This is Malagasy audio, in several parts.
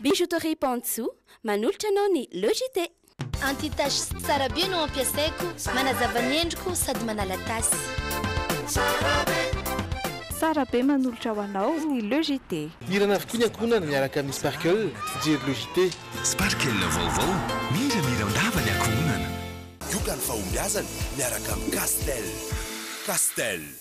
Bijouterie Pantsou manolotra anao ny Le JT. Anti tache sy tsara be no ampiasaiko, manazava ny endriko sady manala tasy. Tsara be. Tsara be manolotra ho anao ny Le JT. Hirana avokoa ny ankohonana miaraka amin'ny Sparkle, fijery Le JT. Sparkle vaovao, miramira an-dava ny ankohonana. Yoga ny fahombiazana miaraka amin'i Castel. Castel.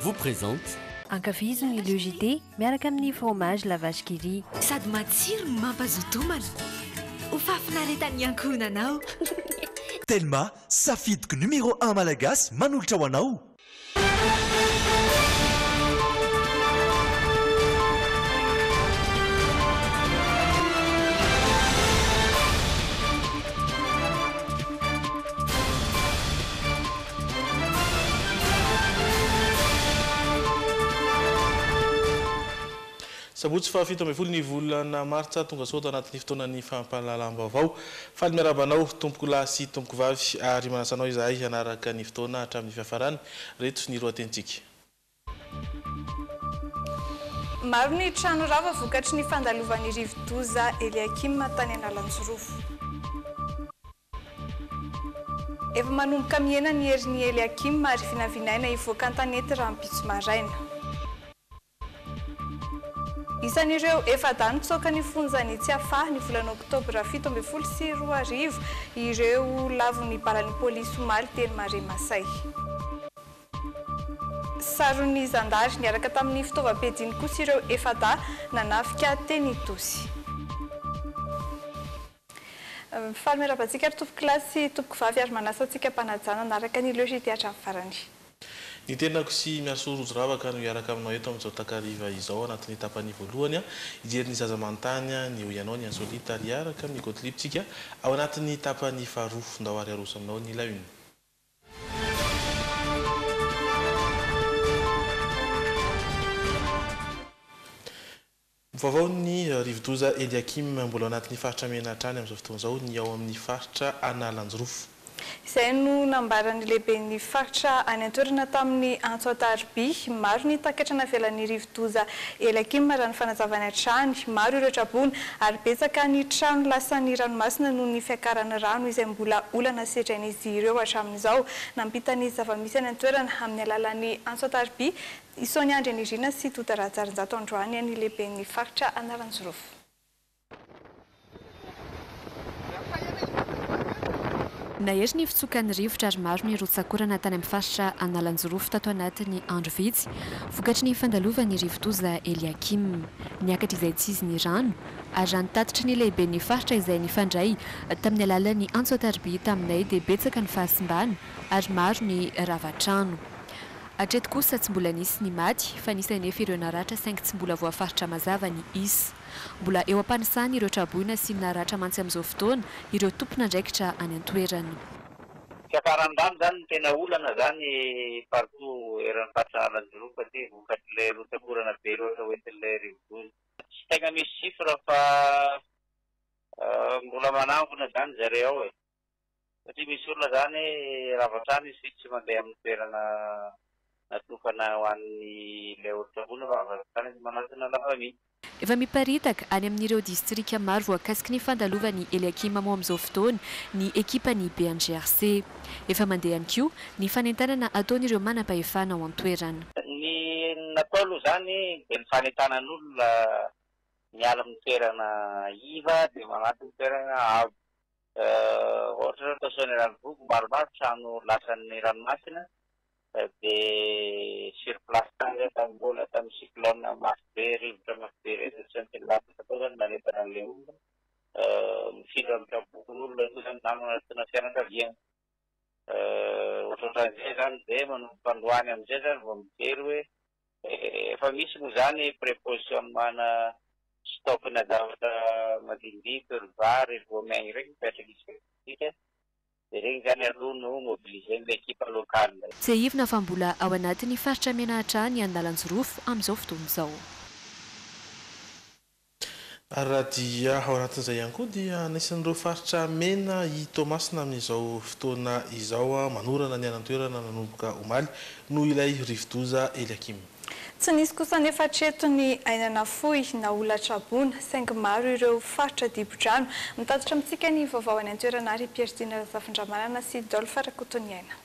vous présente. Ankafizo ny Le JT miaraka amin'ny fromage la vache qui rit. Sady matsiro no mampazoto homana. Ho fahafinaretan'ny ankohonana ao. Telma, safidiko numéro un malagasy manolotra ho anao. Sabotsy faha fito ambin'ny folo ny volana martsa, tonga soa ato anatin'ny fotoanan'ny fampahalalam-baovao. Faly miarahaba anao tompoko lahy sy tompoko vavy ary manasa anao izahay hanaraka ny fotoana hatramin'ny fiafarany. Reto ny lohatenintsika. Maro ny trano rava vokatry ny fandalovan'ny rivo-doza Eliakim tany Analanjirofo. Efa manomboka mihena ny herin' i Eliakima ary vinavinaina hivoaka an-tanety rahampitso maraina. Isan' ireo efa-dahy nitsoaka ny fonjan' i Tsiafahy, ny volana oktobra fito ambin'ny folo sy roa arivo, ireo lavon' ny balan' ny pôlisy omaly teny Maremasay. Saron' ny zandary niaraka tamin' ny fitaovam-piadiany kosa ireo efa-dahy nanafika teny Itosy. Faly miarahaba antsika ary tompoko lahy sy tompoko vavy ary manasa antsika mpanajà nanaraka ny Leugie dia hatramin'ny farany. Ny tenako sy Miasoa Rojo Ravaka no hiaraka aminao eto amin'izao takariva izao anatin'ny tapany voalohany hijery ny zaza manontany ny eo ianao ny insolite ary hiaraka amin'ny Gottlieb tsika ao anatin'ny tapany faharoa ndao ary aroso aminao ny la une. Vaovaon'ny rivodoza Eliakim, mbola ao anatin'ny faritra mena hatrany amin'izao fotoana izao ny ao amin'ny faritra Analanjirofo. Izay no nambaran'ny lehiben'ny faritra any an-toerana tamin'ny antso an-tarobia. Maro ny takatra navelan'ny rivodoza Eliakim raha ny fanazavany hatrany. Maro ireo traboina ary betsaka ny trano lasan'ny ranomasina noho ny fiakaran'ny rano izay mbola olana sedrain'izy ireo hatramin'izao. Nampita ny zava-misy any an-toerana amin'ny alalan'ny antso an-tarobia I Sonia Andrianirina sy Tota Rahajarinjato androany any lehiben'ny faritra Anaranjirofo. Nahery ny fitsokan'ny rivotra ary maro ny rotsak'orana tany amin'ny faritra Analanjirofo tato anatin'ny andro vitsy vokatry ny fandalovan'ny rivodoza Eliakim. Niakatra izaitsizy ny rano ary raha ny tatitry ny lehiben'ny faritra izay nifandray tamin'ny alalan'ny antso an-tariby taminay dia betsaka ny fahasimbana ary maro ny rava-trano. Hatreto kosa tsy mbola nisy ny maty fa nisy anefa ireo naratra saingy tsy mbola voafaritra mazava ny isa. Mbola eo am-panisany ireo traboina sy ny naratra mantsy amin'izao fotoana ireo tompon'andraikitra any an-toerana. Fiakaran-damba izany no tena olana izany partout eran'ny faritra Analanjirofo aty vokatr'ilay rotsak'orana be loatra hoentin'ilay rivodoza. Tsy tegna misy chiffre fa mbola manangona izany zareo ao e. Satria misy olona izany rava hatrany izy tsy mandeha amin'ny toerana natokana ho an'ny ilay olon-tsaboana fa avy hatrany izy manatona la famille. Efa miparitaka any amin'ireo distrika maro voakasiky ny fandalovan'i Eliakim mo amin'izao fotoana ny ekipan'ny BNGRC. Efa mandeha ihany koa ny fanentanana ataon'ireo manam-pahefana ao an-toerana. Ny natao aloha izany dia ny fanentanan'olona miala amin'ny toerana iva dia manatona toerana avo. Ohatra zao atao Soanierana Ambohivogo maromaro trano lasan'ny ranomasina dia sur place tany zay tamin'ny mbola tamin'ny cyclone mafy be rivotra mafy be reny tsy maintsy nilamina tao zany nanentana an'ilay olona mifindra mitram-pokon'olona koa zany na manatona fianakaviana ohatrohatran'izay zany dia manomboka androany amin'izay zany vao mijery hoe Efa misy moa izany prepositionnemana stock-na zavatra madinidiko, ry vary, ry voamaina ireny mipetraka isika, dia ireny izany aloha no mobiliser-n'ny ekipa locale. Tsiahivina fa mbola ao anatin'ny faritra Menahatra ny andalan-jorofo amin'izao fotoana izao. Ary raha dia ao anatin'izay ihany koa dia anisan'ireo faritra mena i Toamasina amin'izao fotoana izao, manorana ny any an-toerana nanomboka omaly, noho ilay rivodoza Eliakim. Tsy nisy kosa anefa hatreto ny aina nafoy na olona traboina, saingy maro ireo faritra dibo-drano. Mitatitra amintsika ny vaovao any an-toerana àry i Pierre Dina Razafindramanana sy Dolph Rakotoniaina.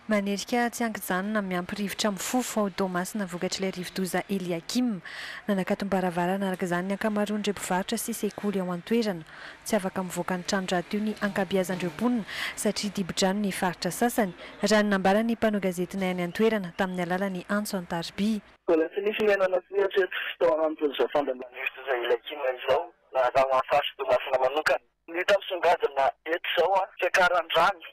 Manerika tsy an-kijanona miampy rivotra mifofo ao Toamasina vokatr'ilay rivodoza Eliakim. Nanakatom-baravarana araka izany ny ankamaroan'ireo mpivarotra sy sekoly ao an-toerana. Tsy afaka mivoaka ny trano rahateo ny ankabeazan'ireo mponina satria dibo-drano ny faritra sasany, raha ny nambaran'ny mpanao gazetinay any an-toerana tamin'ny alalan'ny antso an-tarobia. Mbola tsy nisy niainana koa hatreto tao anatin'izao fandanian'ny rivodoza Eliakim izao raha ho an'ny faritra Toamasina manokana. Ny hita misongadina eto izao, fiakaran'ny rano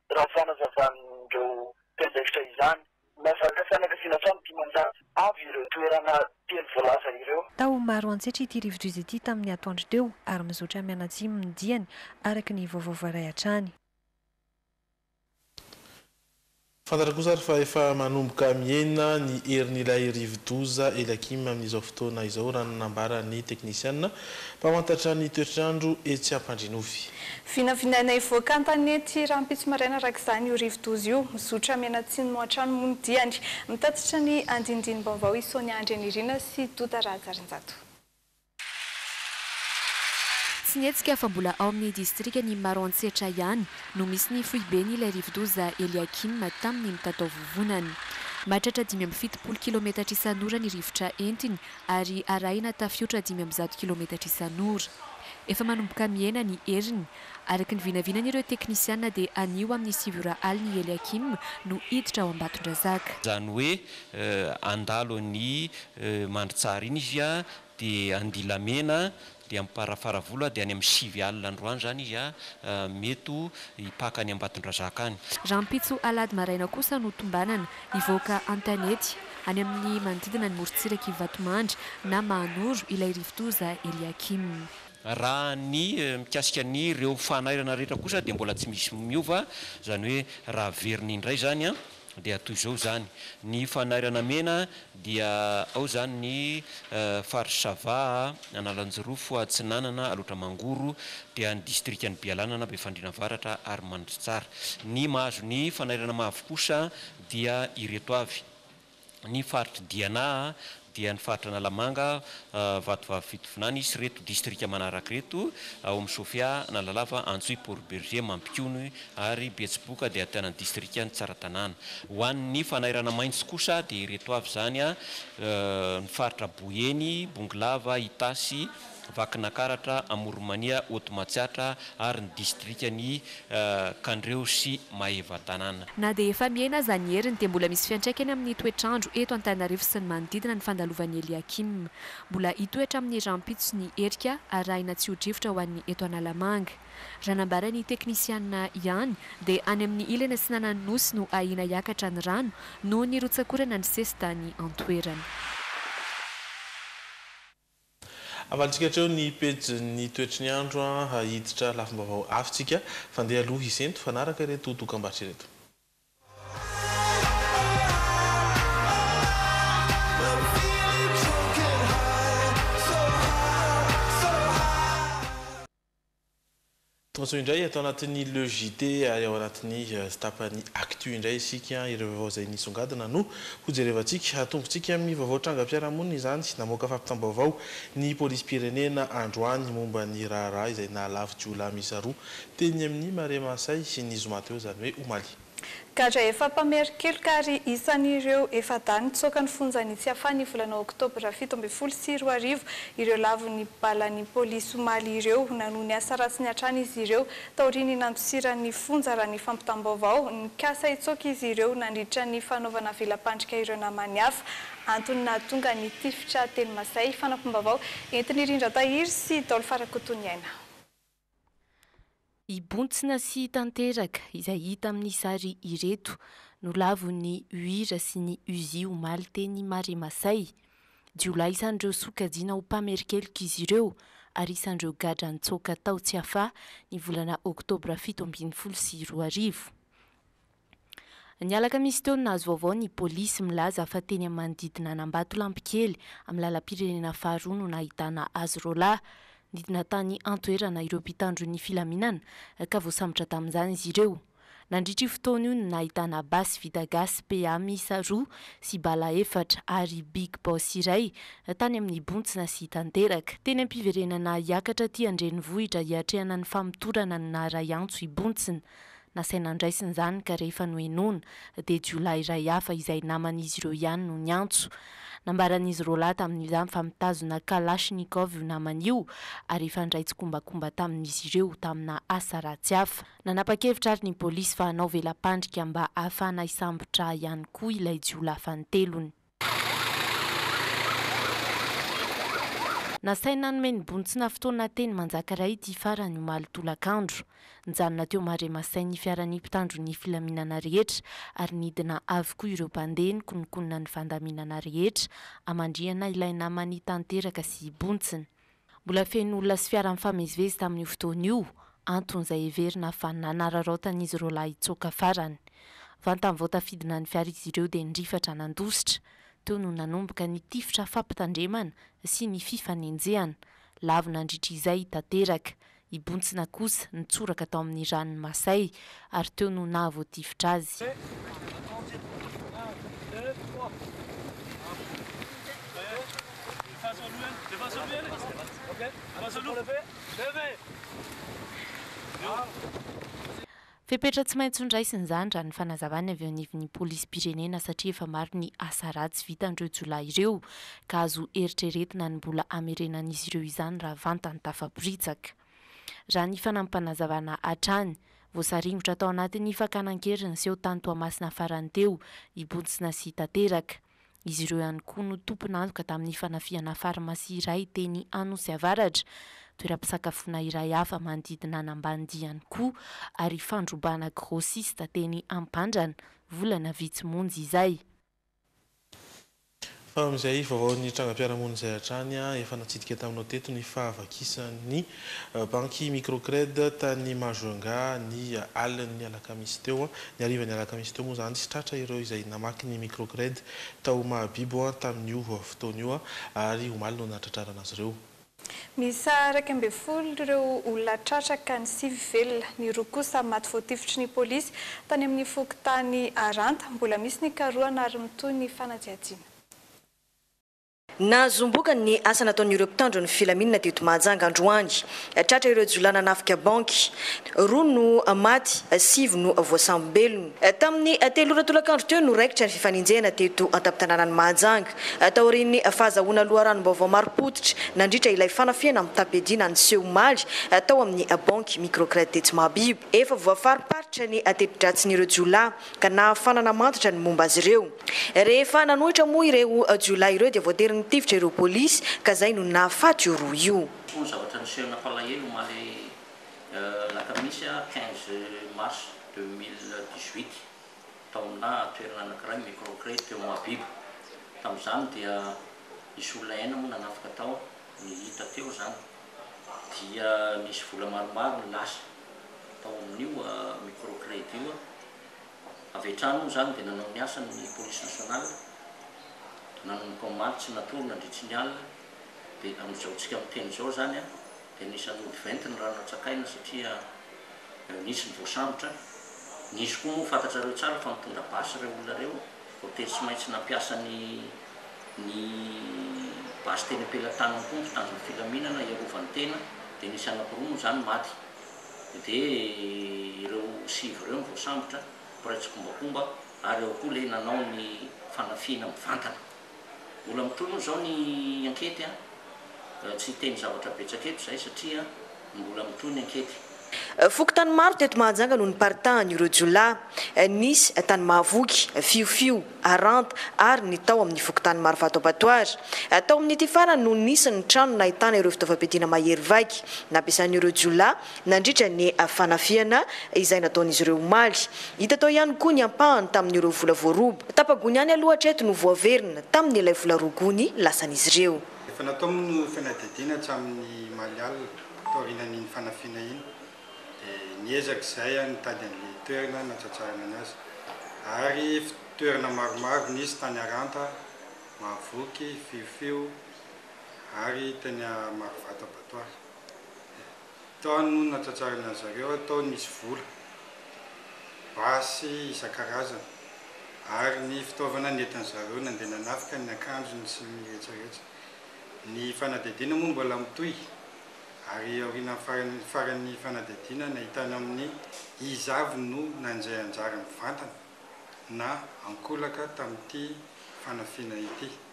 raha ny fanazavan'ireo mpiandraikitra izany. Mahazaka fianakaviana hatramin'ny dimanjato avy ireo toerana telo voalaza ireo. Tao Maroantsetra ity rivodoza ity tamin'ny atoandro teo ary mizotra mianatsimo ny diany, araka ny vaovao voaray hatrany. Fantatra kosa ary fa efa manomboka mihena ny herin'ilay rivodoza Elakim amin'izao fotoana izao, raha ny nambaran'ny teknisiana. Mpamantatra ny toetr'andro etsy Ampandrinovy. Vinavinaina hivoaka an-tanety ity rahampitso maraina araka izany io rivodoza io. Mizotra mianatsimo hatrany moa ny diany. Mitatitra ny andinindini-baovao i Sonia Andrianirina sy Douda Rahajarinjato. Tsy nihetsika fa mbola ao amin'ny distrikan'i Maroantsetra ihany no misy ny foibeny ilay rivodoza Eliakim tamin'ny mitataovovonana. Mahatratra dimy amby fitopolo kilaometatra isan'ora ny rivotra entiny ary arahina tafiotra dimy amby zato kilometatra isan'ora. Efa manomboka mihena ny heriny. Araka ny vinavinan'ireo teknisiana dia anio amin'ny sivy ora alina i Eliakim no hiditra ao Ambatondrazaka. Izany hoe handalo an'i Mandritsara iny izy dia handilamena dia amparafaravola aho dia any amin'ny sivy alina androany izany izy aho mety ho hipaka any Ambatondrazaka any. Rahampitso alahady maraina kosa no tombanana hivoaka an-tanety any amin'ny manodidina ny morontsirak'i Vatomandry na Mahanoro ilay rivodoza Eliakim. Raha ny mikasika an'ireo fanairana rehetra kosa dia mbola tsy misy miova, izany hoe raha averina indray izany an, dia toy izao izany, ny fanairana mena dia ao izany ny faritra Sava, Analanjirofo, Atsinanana, Alaotra Mangoro, dia ny distrikan'i Bialanana, Befandriana Avaratra ary Mandritsara. Ny mahazo ny fanairana mavo kosa dia ireto avy. ny faritr'i Diana dia ny faritra Analamanga, Vatovavy Fitovinany, hisy ireto distrika manaraka ireto, ao amin'ny Sofia, Analalava, Antsohihy, Port Bergé, Mampikony ary Betsiboka dia ahitana ny distrikan'i Tsaratanàna. Ho an'ny fanairana maitso kosa dia ireto avy izany, ny faritra Boeny, Bongolava, Itasy, Vakinakaratra, Amoronmania, Haotomatsiatra ary ny distrikan'i Kandreho sy Maevatanàna. Na dia efa mihena aza ny heriny dia mbola misy fiantraikany amin'ny toetr'andro eto Antananarivo sy ny manodidina ny fandalovan'i Eliakim. Mbola hitoetra amin'ny rahampitso ny herika arahina tsy ho drivotra ho an'ny eto Analamanga. Raha nambaran'ny teknisianina ihany dia any amin'ny ilany atsinanan'ny Nosy no ahiana hiakatra ny rano noho ny rotsakorana nisesy tany an-toerana. Havalintsika hatreo ny pejin'ny toetry ny andro ha hiditra lafim-baovao hafa tsika fa ndeha aloha hisento hifanaraka ireto dokambarotra ireto. Tojo indray ato anatin'ny Le JT ary ao anatin'ny tapan'ny Actu indray isika. Ireo vaovao izay nisongadina no hojerevantsika. Atombotsika amin'ny vaovao trangam-piarahamonina izany. Namoaka fampitam-baovao ny polisim-pirenena androany momba ny raharaha izay nahalavo jiolahy miisa roa teny amin'ny Marais Mahasay, ny zoma teo izany hoe omaly. Gadra efa mpamerin-keloka ary isan'ireo efa-dahy nitsoaka ny fonjan'i Tsiafahy ny volana oktobra fito ambin'ny folo sy roa arivo ireo lavon'ny balan'ny polisy omaly ireo. Nanohy ny asa ratsiny hatrany izy ireo taorian'ny nandosiran'ny fonja raha ny fampitam-baovao. Nikasa hitsoaka izy ireo nandritra ny fanaovana vela-pandrika ireo namany hafa. Antony nahatonga ny tifitra teny Masay. Fanampim-baovao entin'i Rindratahiry sy Daolo Farakotoniaina. Hibontsina sy hitanteraka izay hita amin'ny sary ireto, nolavon'ny UIR sy ny UZI omaly teny Maremasay. Jiolahy isan'ireo sokajiana ho mpamerin-keloka izy ireo ary isan'ireo gadra nitsoaka tao Tsiafahy ny volana oktobra fito ambin'ny folo sy roa arivo. Ny alakamisy teo no nahazo vaovao ny polisy milaza fa teny amin'ny manodidina an'Ambatolampikely, amin'ny lalam-pirenena faharoa no nahitana azy roalahy. Nidina tany an-toerana ireo mpitandro ny filaminana ka voasambotra tamin'izany izy ireo. Nandritra io fotoana io no nahitana basy vita gasy PA miisa roa sy bala efatra ary Big Boss iray tany amin'ny bontsina sy tanteraka. Teny am-piverenana hiakatra aty an-drenivohitra hiatrehana ny famotorana no naharay antso i Bontsina. Nasaina andraisina izany ka rehefa nohenoina dia jiolahy iray hafa izay naman'izy ireo ihany no niantso. Nambaran'izy roalahy tamin'izany fa mitazona kalachnikov io namany io ary efa handray tsikombakomba tamin'izy ireo tamina asa ratsy hafa. Nanapa-kevitra ary ny polisy fa hanao vela-pandrika mba hahafahana hisambotra ihany koa ilay jiolahy fanintelony. Nasainy nanome ny bontsina fotoana teny Manjakaray ity farany omaly tolakandro. Nijanona teo Maremasain ny fiaran'ny mpitandro ny filaminana rehetra ary nidina avokoa ireo mpandeha nikononkonona ny fandaminana rehetra hamandrihana ilay namany tanteraka sy bontsina. Mbola feno olona sy fiara nifamezivezy tamin'io fotoana io, anton'izay heverina fa nanararaotan'izy ireo lahy hitsoaka farany. Vantany vao tafidina ny fiara izy ireo dia nirifatra nandositra. Teo no nanomboka ny tifitra fampitandremana sy ny fifanenjehana. Lavo nandritra izay tanteraka. I Bontsina kosa nitsoraka tao amin'ny ranon'i Masay ary teo no nahavoatifitra azy. Fepetra tsy maintsy hondraisina izany raha ny fanazavany avy eo anivon'ny polisim-pirenena satria efa maro ny asa ratsy vitan'ireo jiolahy ireo ka azo eritreretina ny mbola hamerenan'izy ireo izany raha vantany tafaporitsaka. Raha ny fanampim-panazavana hatrany, voasaringotra tao anatin'ny fakana an-keriny seho tany Toamasina farany teo i Bontsina sy Tanteraka. Izy ireo ihany koa no tompon'antoka tamin'ny fanafihana farmasia iray teny Anosy Avaratra, toeram-pisakafoana iray hafa manodidina an'Ambanidia ihany koa ary fandrobana grossiste teny Ampandrana, volana vitsy monja izay. Fa amin'izay vaovaon'ny trangam-piarahamonina izay hatrany efa natsidika taminao teto ny fahavakisan'ny Banky Microcred tany Majunga ny alin'ny alakamisy teo. Ny harivan'ny alakamisy teo moa izany tsy tratra ireo izay namaky ny Microcred tao Mahabibo tamin'io fotoana io ary omaly no nahatratrarana azy ireo. Miisa iraika ambin'ny folo ireo olona tratra ka ny sivy velona, ny roa kosa maty voatifitry ny polisy tany amin'ny fokontany Aranta. Mbola misy ny karohana ary mitohy ny fanadihadiana. Nahazoam-bokany ny asa nataon'ireo mpitandro ny filaminana teto Mahajanga androany. Tratra ireo jiolahy nanafika banky. Roa no maty, sivy no voasambom-belona. Tamin'ny telo ora tolakandro teo no raikitra ny fifanenjehana teto an-tampon-tanànan'i Mahajanga. Taorian'ny fahazahoana loharanom-baovao marim-pototra nandritra ilay fanafihana mitam-piadiana niseho omaly tao amin'ny banky Microcred tetsy Mahabibo, efa voafariparitra ny teti-dratsin'ireo jiolahy. ka nahafana namatotra ny momba azy ireo. Rehefa nanohitra moa ireo jiolahy ireo dia voatery nitifitra ireo polisy ka izay no nahafaty io roa io. Koa ny zavatra niseho nampalahelo omaly alakamisy quinze mars deux mille dix-huit tao aminà toerana anankiray microcré teo Mahabibo. Tamin'izany dia nisy olona enina moa nanafika tao, ny hita teo izany dia nisy vola maromaro no lasa. tao amin'io micro credit io avy hatrany moa izany dia nanao ny asany ny police nationale nanomboka omaly tsy natory nandritry ny alina dia amin'izao tsika miteny izao izany a dia anisan'ny ody venty ny rano natsakaina satria nisy ny voasambotra nisy koa moa fantatrareo tsara fa mitondra basy ireo olona ireo Voatery tsy maintsy nampiasa ny ny basy teny am-pelatanany koa ny mpitandron'ny filaminana hiarovany tena, dia nisy anankiroa moa izany maty, dia ireo sivy ireo no voasambotra, mpiray tsikombakomba, ary ao koa ilay nanao ny fanafihana mivantana. Mbola mitohy moa izao ny ankety an! Tsy hiteny zavatra betsaka eto izahay satria. Mbola mitohy ny ankety. Fokontany maro teto Mahajanga no niparitahan' ireo jiolahy. Nisy tany Mahavoky, Fiofio, Haranta ary ny tao amin'ny fokontany Marovato Abattoir. Tao amin'ity farany no nisy ny trano nahitana ireo fitaovam-piadiana mahery vaika nampiasan'ireo jiolahy nandritra ny fanafihana izay nataon'izy ireo omaly. Hita tao ihany koa ny ampahany tamin'ireo vola voaroba. Tapa-gony ihany aloha hatreto no voaverina tamin'ilay vola roa gony lasan'izy ireo. Efa natao moa ny fanadihadiana hatramin'ny omaly alina, taorianan'iny fanafihana iny, dia niezaka izahay nitady an'ilay toerana natratrarana ny azy, ary toerana maromaro nisy tany Aranta, Mahavoky, Fiofio, ary teny Marovato Abattoir. Tao no natsatsarin'azareo atao nisy vola, basy isan-karazany ary ny fitaovana nentin'zareo nandeha nanafika ny akanjony sy ny retraretra. Ny fanadihadiana moa mbola mitohy ary aorianan'ny farany faran'ny fanadihadiana nahitana amin'ny iza avy no nandray anjara mivantana na ankolaka tamin'ity fanafiana ity.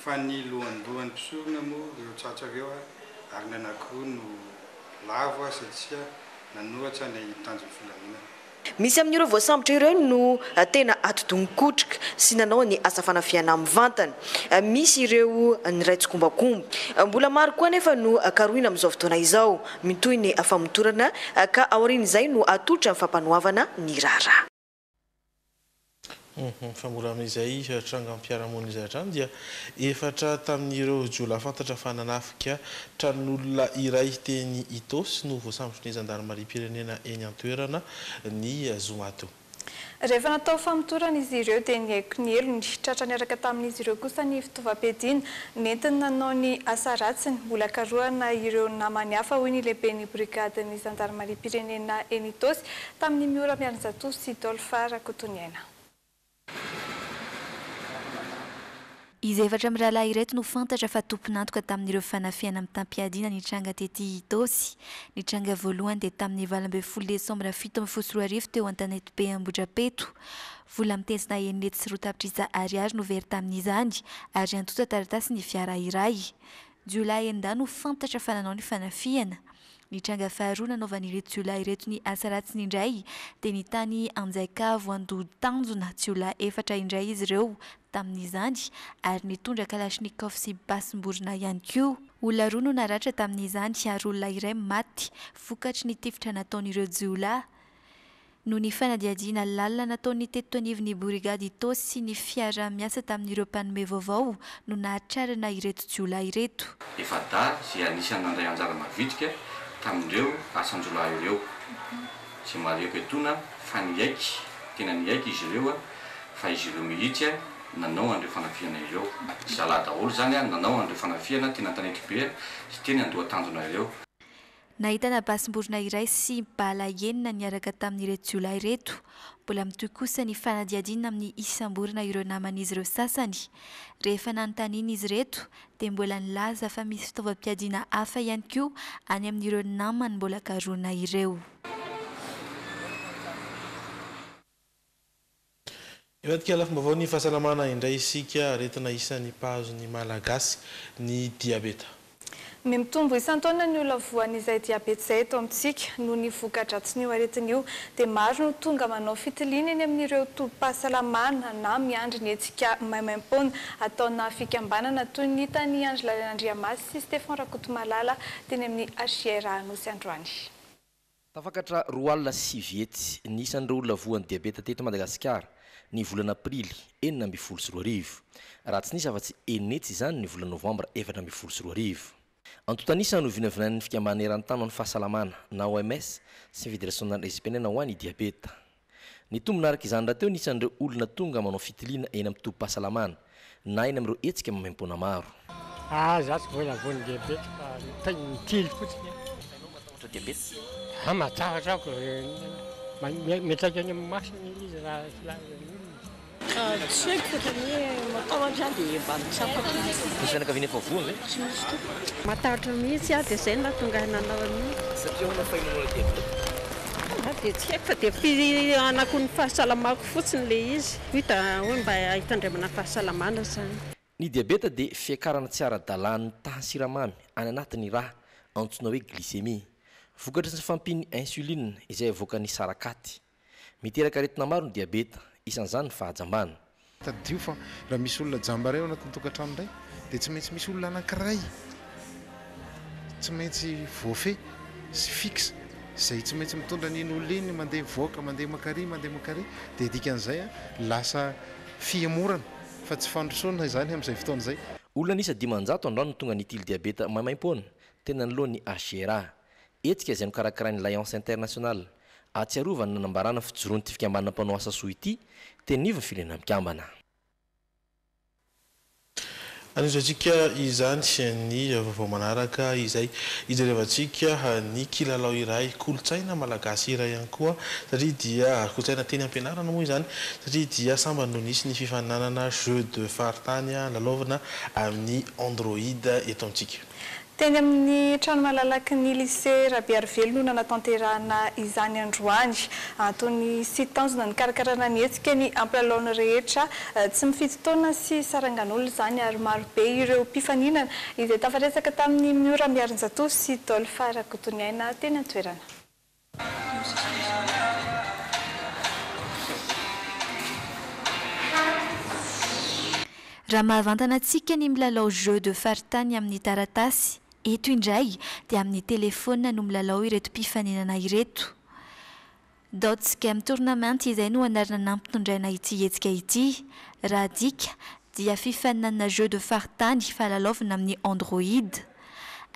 Fa ny lohandohan'ny mpisorona moa ireo tratra ireo ary ny anankiroa no lavo satria nanohatra ny tanjon'ny filaminana. Misy amin'ireo voasambotra ireo no tena ati-doha-mikotrika sy nanao ny asa fanafihana mivantana. Misy ireo niray tsikombakomba. Mbola maro koa anefa no karohina amin'izao fotoana izao. Mitohy ny famotorana ka aorian'izay no atolotra ny fampanoavana ny raharaha. Fa mbola amin'izay trangam-piarahamonina izay hatrany dia efatra tamin'ireo jiolahy fantatra fa nanafika tranon'olona iray teny Itaosy no voasambotry ny zandarimariam-pirenena eny an-toerana ny zoma teo. Rehefa natao famotorana izy ireo dia nihaiko ny helony. Tratra niaraka tamin'izy ireo kosa ny fitaovam-piadiana nentiny nanao ny asa ratsiny. Mbola karohina ireo namany hafa hoy ny lehiben'ny brigadin'ny zandarimariam-pirenena eny Itaosy, Tamin'i Miora Miarinjatovo sy Dolpha Rakotoniaina. Izy efatra mirahalahy ireto no fantatra fa tompon'antoka tamin'ireo fanafihana mitam-piadiana nitranga tety Itaosy. Ny tranga voalohany dia tamin'ny valo ambin'ny folo desambra fito ambin'ny folo sy roa arivo teo Antanetibe Ambohidrapeto. Vola mitezina enina hetsy sy roa tapitrisa ariary no very tamin'izany ary antotan-taratasy ny fiara iray. Jiolahy endà no fantatra fa nanao ny fanafihana. Ny tranga faharoa nanaovan'ireto jiolahy ireto ny asa ratsiny indray dia ny tany Anjaikavo Andoha Tanjona. Jiolahy efatra indray izy ireo tamin'izany ary nitondra kalachnikov sy basim-borona ihany koa. Olona roa no naratra tamin'izany ary olona iray maty vokatry ny tifitra nataon'ireo jiolahy. noho ny fanadihadiana lalina nataon'ny tetitonivon'ny borigady Itaosy sy ny fiaraha-miasa tamin'ireo mpanome vaovao no nahatrarana ireto jiolahy ireto. Efa dahy izay anisan'ny nandray anjara mavitrika tamin'ireo asan-jiolahy ireo, izay marihiko etoana fa niaiky, tena niaiky izy ireo fa izy ireo mihitsy no nanao an'ireo fanafihana ireo. Zalahy daholo izany no nanao an'ireo fanafihana teny Antanetibe sy teny Andohatanjona ireo. Nahitana basim-borona iray sy bala enina niaraka tamin'ireto jiolahy ireto. Mbola mitohy kosa ny fanadihadiana amin'ny isam-borona ireo naman'izy ireo sasany. Rehefa nanontaniana izy ireto dia mbola nilaza fa misy fitaovam-piadiana hafa ihany koa any amin'ireo namany mbola karohina ireo. Hivadika lafim-baovaon'ny fahasalamana indray isika, aretina isan'ny mpahazo ny Malagasy ny diabeta. Mimitombo isan-taona ny olona voan'izay diabeta izay eto amintsika. Noho ny voka-dratsin'io aretina io dia maro no tonga manao fitiliana eny amin'ireo tobim-pahasalamana na miandry ny hetsika maimaim-poana ataona fikambanana toy ny hitan'i Andry Laliana Andriamasy sy Stephan Rakotomalala teny amin'ny HIR Anosy androany. Tafakatra roa alina sy sivy hetsy ny isan'ireo olona voan'ny diabeta teto Madagasikara ny volana Aprily enina ambin'ny folo sy roa arivo, raha tsy nisy afa-tsy enina hetsy izany ny volana Novambra efatra ambin'ny folo sy roa arivo. Antontan'isa no vinavinain'ny Fikambanana Eran-tany ho an'ny Fahasalamana na OMS sy ny Federasionan'ny Espanina ho an'ny Diabeta. Nitombina araka izany rahateo ny isan'ireo olona tonga manao fitiliana eny amin'ny tobim-pahasalamana, na eny amin'ireo hetsika maimaim-poana maro. Aah izaho tsy voa na voa ny diabeta fa miteny mitily fotsiny aho. Taux de diabeta? Aah mazava atrako, miantraika any amin'ny masony ilay izy raha tsy laza ny olona. Tsy haiko fa tena hoe matahotra aho dia mba mitsapa kely. Misy fianakaviana efa voa ve? Tsy misy tompoko. Matahotra mihitsy aho dia izay no nahatonga ahy nanao an'io. Satria ahoana fa ianao no nandia vola? Aho dia tsy haiko fa dia fihanako ny fahasalamako fotsiny ilay izy. Hoy da hoe mba hitandremana fahasalamana izany. Ny diabeta dia fiakarana tsy ara-dalàn'ny tahan'ny siramamy any anatin'ny rà, antsoina hoe glycémie. Vokatry ny fampian'ny insuline izay avoakan'ny sarakaty. Miteraka aretina maro ny diabeta, isan'izany ny fahajambana. Tadidio fa raha misy olona jamba iray ao anatin'ny tokantrano iray dia tsy maintsy misy olona anankiray tsy maintsy voafehy sy fixe izay tsy maintsy mitondra an'iny olona iny mandeha mivoaka mandeha mankary mandeha mankary dia dikan'izay lasa fihemorana fa tsy fandrosoana izany amin'izay fotoana izay. Olona an'isa dimanjato androany no tonga nitily diabeta maimaimpoana, tena niloa ny HGRA. Hetsika izay nokarakarain'ny Lions International. Ahatsiarovana ny nanambarana fijoroan'ity fikambanana mpanao asa soa ity teny anivon'ny Firenena Mikambana. Anindriantsika izany ny vaovao manaraka izay hijerevantsika ny kilalao iray kolontsaina malagasy iray ihany koa satria dia kolontsaina teny am-pianarana moa izany satria dia sambany no nisy ny fifaninanana jeux de faritany lalaovina amin'ny Android eto amintsika. Teny amin'ny trano malalaky ny Lycée Rabearivelo no nanatanterahana izany androany. Antony sy tanjona nikarakarana ny hetsika ny hampilalao ny rehetra tsy mifidy taona sy sarangan'olona izany ary maro be ireo mpifaninana izay tafaresaka tamin'i Miora Miarinjatovo sy Dolph Rakotoniaina teny an-toerana. Raha mahavantana antsika ny milalao jeu de faritany amin'ny taratasy, eto indray dia amin'ny telefaonina no milalao ireto mpifaninana ireto. Dots Game Tournament izay no anarana nampitondraina ity hetsika ity. Raha adika dia fifaninanana jeu de faritany fa lalaovina amin'ny Android.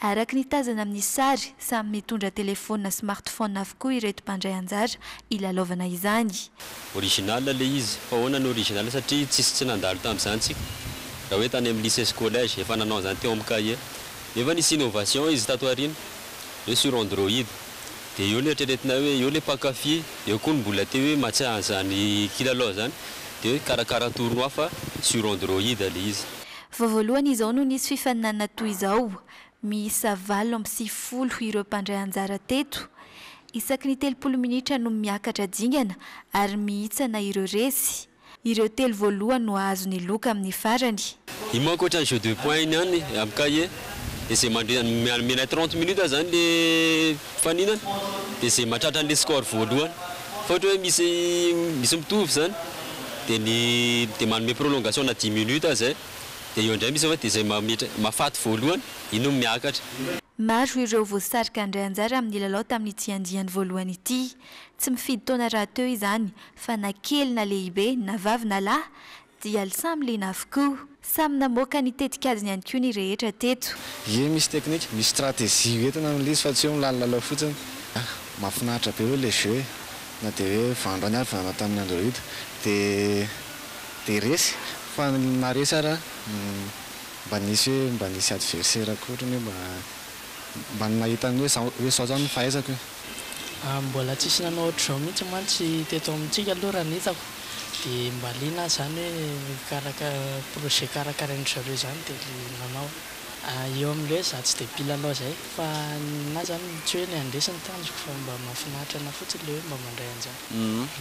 Araka ny tazana amin'ny sary, samy mitondra telefaonina smartphone avokoa ireto mpandray anjara hilalaovana izany. Original ilay izy. Fa ahoana no original satria tsisy tsy nandalo tamin'izany tsika. Raha hoe tany amin'ny lycée sy collège efa nanao an'izany teo amin'ny cahier. Nefa nisy innovation izy tato aoriana hoe sur android. Dia eo no eritreretinay hoe eo ilay mpankafy, eo koa ny mbola te hoe mahatsiahy an'izany kilalao izany. Dia hoe karakara atorono ahy fa sur android ilay izy. Vao voalohany izao no nisy fifaninanana toy izao. Miisa valo amby sivifolo ireo mpandray anjara teto. Isaky ny telopolo minitra no miakatra dingana ary mihitsana ireo resy. Ireo telo voalohany no hahazo ny loka amin'ny farany. Io manko ohatran'ny jeu de points iny ihany amin'ny cahier. Dia izay mandre, mianmena trente minutes zany le. Fanina dia izay mahatratra an'ilay score voalohany fa ohatra hoe misy misy mitovy izany dia ny dia manome prolongation na dimy minutes aza zay dia eo indray misy dia izay mametra mahafaty voalohany iny no miakatra. Maro ireo voasarika handray anjara amin'ny lalao tamin'ity andiany voalohany ity. Tsy mifidy taona rahateo izany fa na kely na lehibe, na vavy na lahy, Dia lsamy liana avokoa. Samy namoaka ny tetikadiny ihany koa ny rehetra teto. Ie misy technique, misy stratégie ho entina amin'ilay izy fa tsy hoe milalilalao fotsiny. Ah, mahafinaritra be aloha ilay jeu e! Na dia hoe vando any ary nanao tamin'ny Android dia dia resy. Fa ny maharesy ary an, mba nisy hoe mba nisy adversaire akory ny hoe mba mba ny nahita ny hoe zao hoe zao zao ny fahaizako e! Mbola tsisy nanao ohatr'izao mihitsy mantsy teto amintsika aloha raha ny hitako dia mba liana aho izany hoe projet karakarain-dry zareo izany dia le nanao. Eo amin'ilay hoe za tsy dia mpilalao izay fa ninahy izany tsy hoe ny handresy ny tanjoko fa mba mahafinaritra anahy fotsiny ilay hoe mba mandray anjara.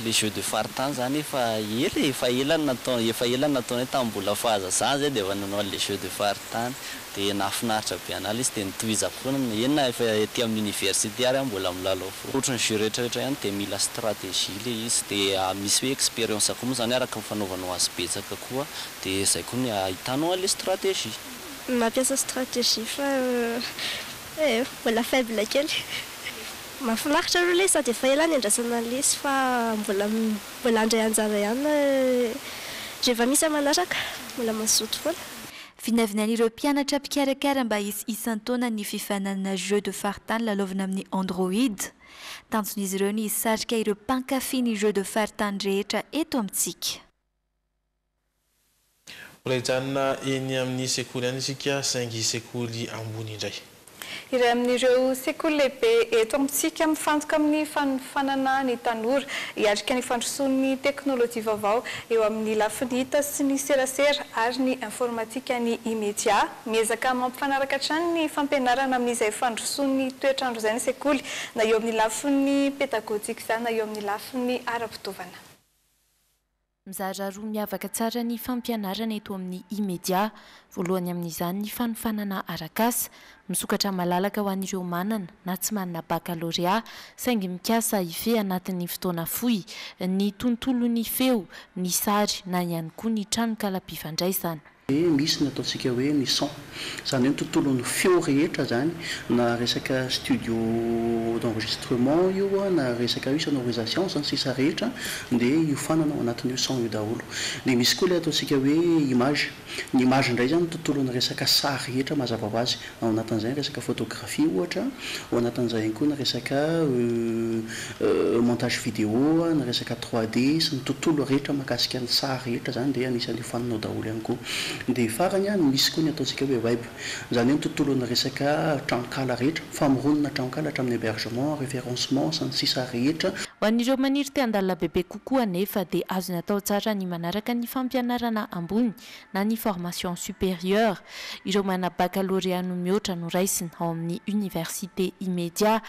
Le jeux de faritany zany efa ela e, efa ela no natao, efa ela no nataonay tamin'ny mbola fahazaza zay de efa nanao an'le jeux de faritany. Dia nahafinaritra be an'ala izy dia notohizako foana ny hoe eny na efa ety amin'ny université ary aho mbola milalao foana. Ohatry ny jeu rehetrarehetra ihany dia mila stratégie ilay izy dia misy hoe expérience koa moa izany araka ny fanaovanao azy betsaka koa dia izay koa no ahitanao an'ilay stratégie. Mampiasa stratégie fa eh oh mbola faible kely. Mahafinaritra aloha ilay izy sady efa ela niandrasana an'ilay izy fa mbola mbola handray anjara ihany rehefa misy aman'araka, mbola mazoto foana. Vinavinain'ireo mpianatra mpikarakara mba hisy isan-taona ny fifaninanana Jeux de faritany lalaovina amin'ny Android. Tanjon'izy ireo ny hisarika ireo mpankafy ny Jeux de faritany rehetra eto amintsika. Mbola hijanona eny amin'ny sekoly ihany isika saingy sekoly ambony indray. Iray amin'ireo sekoly lehibe eto amintsika mifantoka amin'ny fanofanana ny tanora hiatrika ny fandrosoan'ny teknolojia vaovao eo amin'ny lafiny hita sy ny serasera ary ny informatika ny Imedia. Miezaka mampifanaraka hatrany ny fampianarana amin'izay fandrosoan'ny toetr'andro izay ny sekoly, na eo amin'ny lafiny pedagojika izany na eo amin'ny lafiny ara-pitaovana. Mizara roa miavaka tsara ny fampianarana eto amin'ny Imedia. Voalohany amin'izany ny fanofanana arak'asa. Misokatra malalaka ho an'ireo manana na tsy manana bakalorea, saingy mikasa hifehy anatin'ny fotoana fohy ny tontolon'ny feo, ny sary na ihany koa ny tranokalam-pifandraisana. dia misy ny ataontsika hoe ny son, izany hoe ny tontolon'ny feo rehetra izany, na resaka studio d'enregistrement io, na resaka hoe sonorisation sy ny sisa rehetra dia hiofanana ao anatin'io son io daholo. Dia misy koa ilay ataontsika hoe image, ny image indray izany ny tontolon'ny resaka sary rehetra mazava ho azy. Ao anatin'izay ny resaka photographie ohatra, ao anatin'izay ihany koa ny resaka montage vidéo, ny resaka trois D sy ny tontolo rehetra mahakasika ny sary rehetra izany dia anisan'ny hofaninao daholo ihany koa. Dia farany, ny misy koa ny ataontsika hoe web, izany hoe ny tontolon'ny resaka tranonkala rehetra, famoronana tranonkala hatramin'ny hébergement, référencement sy ny sisa rehetra. Ho an'ireo maniry te-handalina bebe kokoa anefa dia azony atao tsara ny manaraka ny fampianarana ambony na ny formation supérieure, ireo manana baccalauréat no mihoatra no raisina ao amin'ny université immédiat.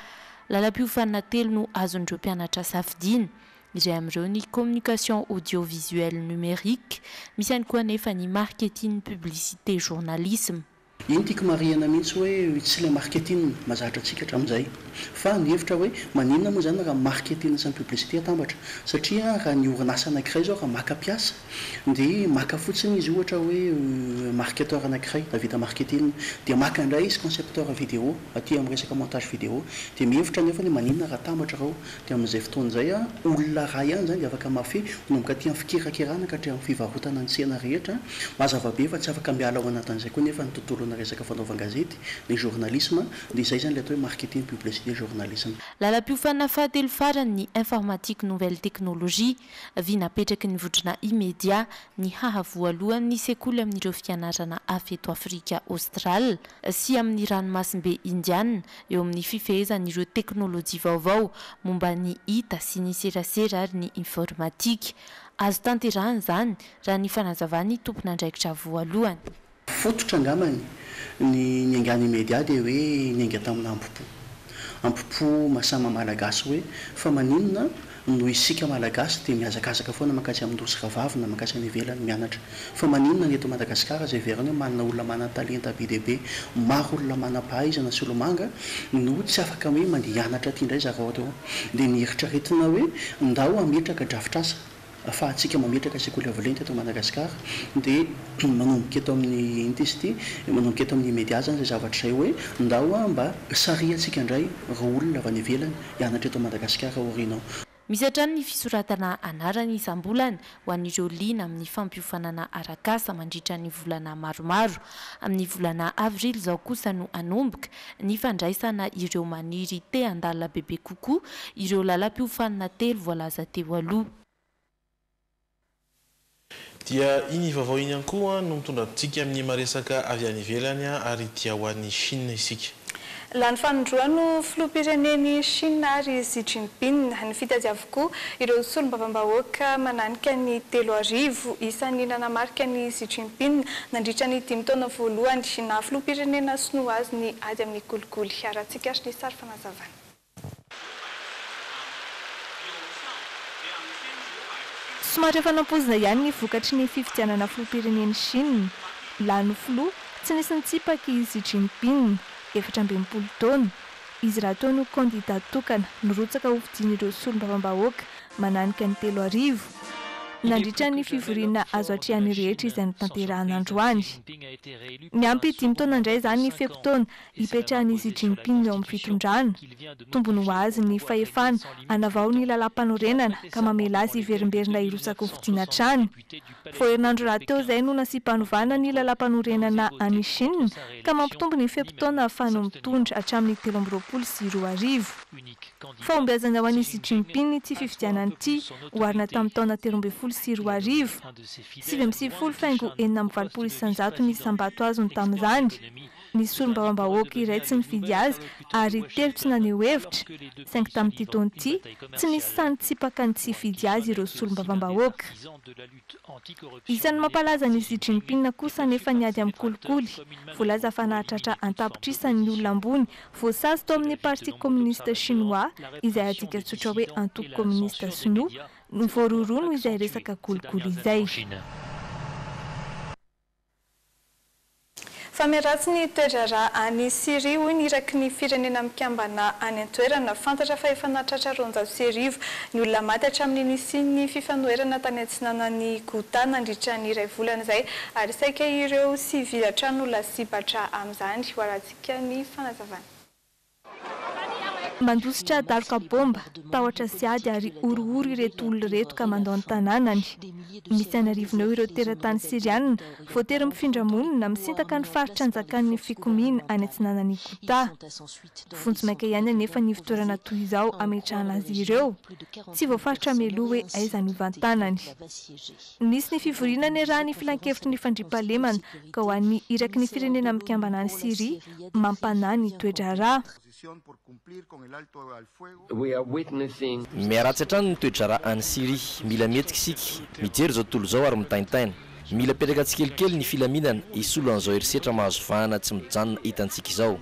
Lalam-piofanana telo no azon'ireo mpianatra safidiana. Iray amin'ireo ny communication audiovisuelle numérique, misy ihany koa anefa ny marketing publicité journalisme. Iny tiako marihina mihitsy hoe tsy ilay marketing mahazatra antsika hatramin'izay fa ny hevitra hoe maninona moa izany raha ny marketing sy ny publicité atambatra? Satria raha ny orinasa anankiray izao raha maka mpiasa dia maka fotsiny izy ohatra hoe marketeur anankiray nahavita marketing dia maka indray izy concepteur vidéo aty amin'ny resaka montage vidéo dia mihevitra anefa ny hoe maninona raha atambatra ireo Dia amin'izay fotoana izay, olona iray ihany izany dia afaka mahafehy, manomboka aty amin'ny fikerakerana ka hatramin'ny fivarotana ny tsena rehetra. Mazava be fa tsy afaka miala ao anatin'izay koa anefa ny tontolonà resaka fanaovan-gazety, ny journalisme, dia izay izany ilay atao hoe marketing publicité journalisme. Lalam-piofanana fahatelo farany ny Informatique Nouvelle Technologie, vy napetraky ny vondrona Imedia, ny haha voalohan'ny sekoly amin'ireo fianarana hafa eto Afrika Aostrale sy amin'ny Ranomasimbe Indiana, eo amin'ny fifehezan'ireo teknolojia vaovao momba ny hita sy ny serasera ary ny informatika. Azo tanterahina izany, raha ny fanazavan'ny tompon'andraikitra voalohany. Fototra angambany, ny niaingan'ny media dia hoe niainga tamina ampo-po. Ampo-po mahasahy maha-malagasy hoe fa maninona Noho isika Malagasy dia mihazakazaka foana mankaiza amin'ny nosy rahavavy na mankaiza any ivelany mianatra. Fa maninona ny eto Madagasikara izay heverina hoe manana olona manan-talenta be dia be, maro olona manam-pahaizana sy olomanga no tsy afaka hoe mandeha hianatra aty indray zareo atao dia ny eritreretina hoe ndao hametraka drafitrasa afahantsika mametraka sekoly avo lenta eto Madagasikara dia manomboka eto amin'ny inty izy ity manomboka eto amin'ny media izany izay zavatra izay hoe ndao mba sarihantsika indray ireo olona avy any ivelany hianatra eto Madagasikara aoriana ao. Misy hatrany ny fisoratana anarana isam-bolana ho an'ireo liana amin'ny fampiofanana arak'asa mandritra ny volana maromaro. Amin'ny volana avrily izao kosa no hanomboka ny fandraisana ireo maniry te handalina bebe kokoa ireo lalam-piofanana telo voalaza teo aloha. Dia iny vaovao iny ihany koa no mitondra antsika amin'ny maresaka avy any ivelany ary dia ho an'i Chine isika. Lany fanindroany ho filoham-pirenen'i Chine àry i Xi Jinping. Nifidy azy avokoa ireo solombavambahoaka mananika ny telo arivo isa ny nanamarika an'i Xi Jinping nandritra ny dimy taona voalohany naha-filoham-pirenena sinoa azy ny ady amin'ny kolikoly. Harahantsika àry ny sary fanazavana. Somary efa nampoizina ihany ny vokatry ny fifidianana filoham-pirenen'i Shina. Lany filoha, tsy nisy nitsipaka i Xi Jinping, efatra amby enimpolo taona. Izy rahateo no kandidà tokana nirotsaka hofidian'ireo solombavambahoaka mananika ny telo arivo, nandritra ny fivoriana azo atrehan'ny rehetra izay notanterahina androany. Miampy dimy taona indray izany ny fe-potoana Hipetrahan'i Xi Jinping ao amin'ny fitondrana. Tombony ho azy ny fahefana hanavao ny lalàmpanorenana ka mamela azy hiverimberina hirotsaka ho fidiana hatrany. Vao herinandro rahateo izay no nasiam-panovana ny lalàmpanorenana any Chine ka mampitombo ny fe-potoana ahafahany mitondra hatramin'ny telo amby roapolo sy roa arivo. Fahombiazana ho an'i Xi Jinping ity fifidianana ity oharina tamin'ny taona telo ambin'ny folo sy roa arivo. Sivy amby sivifolo faingo enina amby valopolo isan-jato ny isam-bato azony tamin'izany. Nisy solombavambahoaka iray tsy nifidy azy ary telo tsy naneho hevitra, saingy tamin'ity taona ity, tsy nisy sahy nitsipaka ny tsy hifidy azy ireo solombavambahoaka. Isan'ny mampalaza an'i Xi Jinping kosa anefa ny ady amin'ny kolikoly. Voalaza fa nahatratra an-tapitrisa ny olona ambony voasazy tao amin'ny Parti Communiste Chinois, izay adika tsotra hoe Antoko Kominista Sinoa, no voarohirohy noho izay resaka kolikoly izay. Fa miharatsy ny toe-draharaha any Syria, hoy ny iraky ny Firenena Mikambana any an-toerana. Fantatra fa efa nahatratra roanjato sy arivo ny olona maty hatramin'ny nisian'ny fifanoherana tany atsinanan'i Ghouta nandritra ny iray volana izay, ary saika ireo sivily hatrany no lasibatra amin'izany, hoarahantsika ny fanazavana. Mandositra daroka bomba, tahotra sy ady ary horohoro ireto olona ireto ka mandao ny tanànany. Misy an'arivony eo ireo teratany Syriana voatery mifindra monina misintaka ny faritra anjakan'ny fikomiana any atsinanan'i Ghouta. Vonjy maika ihany anefa ny ivotorana toy izao ametrahana azy ireo. Tsy voafaritra mialoha hoe aiza no hivantanany. Nisy ny fivoriana niarahan' ny Filankevitry ny Fandriampahalemana ka ho an'ny iraky ny Firenena Mikambana any Syria mampanahy ny toe-draharaha. Miharatsy hatrany ny toe-draharaha any Syria. Mila mihetsika isika, mijery izao tontolo izao ary mitaintaina. Mila petraka tsikelikely ny filaminana hisolo an'izao herisetra mahazo vahana tsy mijanona hitantsika izao.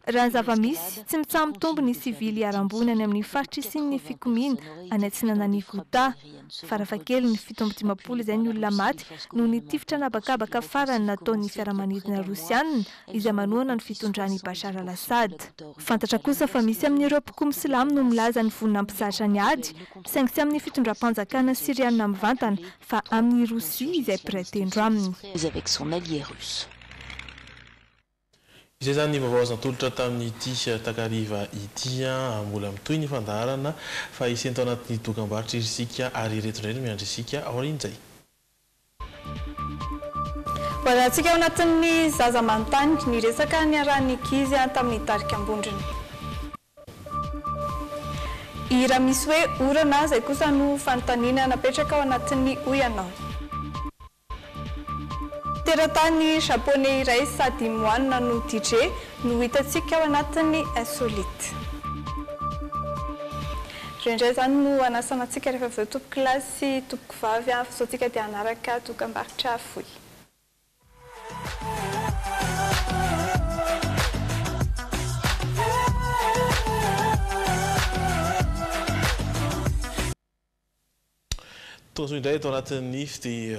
Raha ny zava-misy, tsy mitsaha-mitombo ny sivily hiharam-boina any amin'ny faritra hisian'ny fikomiana any atsinanan'i Ghouta. Farafahakeliny fito amby dimampolo izay ny olona maty noho ny tifitra an'habakabaka farany nataon'ny fiaramanidina Rosiana izay manohana ny fitondran'i Bashar al-Assad. Fantatra kosa fa misy amin'ireo mpikomy silamo no milaza ny vonona hampizatra ny ady, saingy tsy amin'ny fitondram-panjakana Siriana mivantana fa amin'i Rosia izay mpiray tendro aminy. Izay izany ny vaovao azo natolotra tamin'ity takariva ity. Mbola mitohy ny fandaharana fa hisento anatin'ny dokambarotra isika ary ireto indray no miandry isika aorian'izay. Voalazantsika ao anatin'ny Zaza manontany ny resaka niarahan'ny ankizy tamin'ny tarika Ambondrona. Hira misy hoe Orana izay kosa no fanontaniana napetraka ao anatin'ny Hoy ianao. Teratany Japoney iray sady moanina no DJ no hitantsika ao anatin'ny Insolite. Ireo indray izany no hanasana antsika rehefa avy eo tompokolahy sy tompokovavy fa izao antsika dia hanaraka dokambarotra fohy. Tojo indray eto anatin'ny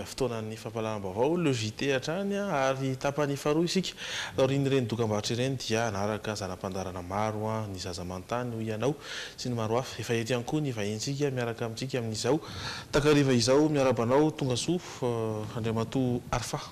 fotoanan'ny fampahalalam-baovao Le JT hatrany ary tapany faharoa isika. Taorian'ireny dokambarotra ireny dia hanaraka zana-pandaharana maro Ny Zaza Manontany, Hoy Ianao sy ny maro hafa. Efa eto ihany koa ny vahintsika miaraka amintsika amin'izao. Takariva izao miarahaba anao, tongasoa, Andriamatoa Arfah.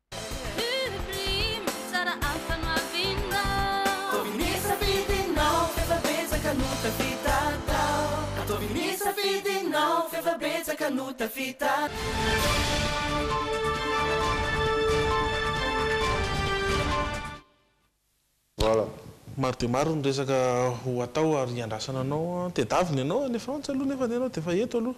Maro dia maro ny resaka ho atao ary hiandrasana anao an! Tedavina ianao any Frantsa aloha nefa ny anao dia efa eto aloha.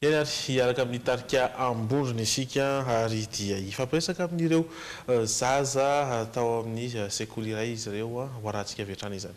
Eny ary, hiaraka amin'ny tarika Amborina isika ary dia hifampiresaka amin'ireo zaza tao amin'ny sekoly iray izy ireo. Ho arahantsika avy hatrany izany.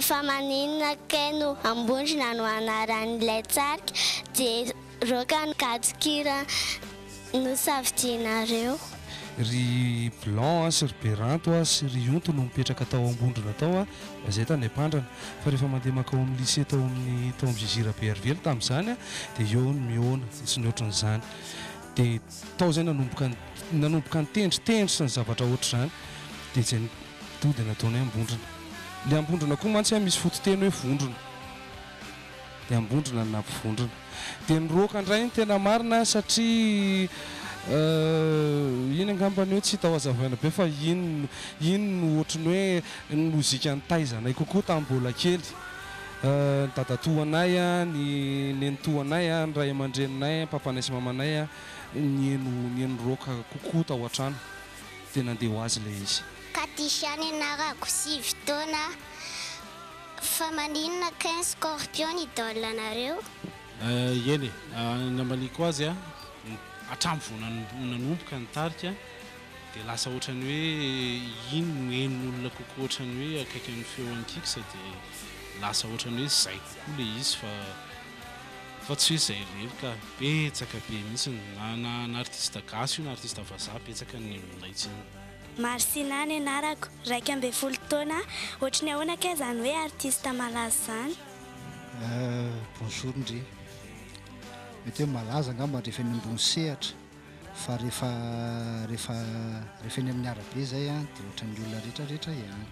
Fa maninona kay no Ambondrona no anaran'ilay tarika dia rock no gadon-kira nosafidianareo? Ry Blanc a sy ry Beranto a sy ry Onto no mipetraka tao Ambondrona tao a, raha izay tany Ampandrana. Fa rehefa mandeha mankao amin'ny lycée tao amin'ny tao amin'ny JJ Rabearivelo tamin'izany a dia eo ny mihaona sy ny ohatran'izany. Dia tao izay nanomboka nanomboka nitendry tendry sy ny zavatra ohatr'izany. Dia izay ny tody nataonay Ambondrona. Ilay Ambondrona koa mantsy an, misy fototeny hoe vondrona. Dia Ambondrona no nampivondrona. Dia niroaka indray ny tena marina satria euh, iny angamba ny hoe tsy hita ho hazavaina be fa iny no, iny no ohatry ny hoe ny lozika nitaizanay kokoa tamin'ny mbola kely. Euh, ny dadatoanay an, ny nenitoanay an, ny ray aman-dreninay an, papanay sy mamanay an, nihaino, nihaino rock kokoa tao an-trano. Dia nandeha ho azy ilay izy. Katisha nianarako sivy taona Fa maninona ken scorpion ny idole nareo? Eh eny e, nambaliako azy hatramin'ny vao nanomboka ny tarika dia lasa ohatran'ny hoe iny no henon'olona kokoa ohatran'ny hoe akaiky amin'ny feo an'i Kix dia lasa ohatran'ny hoe izay kokoa ilay izy fa fa tsy hoe izay irery ka. Betsaka be mihitsy na na artiste gasy io na artiste vazaha betsaka ny nenon'ilay tsena. Marcina ny anarako, iraika ambin'ny folo taona, ohatry ny ahoana kay izany hoe artiste malaza izany? Bonjour ndry, mety hoe malaza angamba rehefa eny ambony sehatra fa rehefa rehefa rehefa eny amin'ny arabe izay an dia ohatry ny olona rehetra rehetra ihany,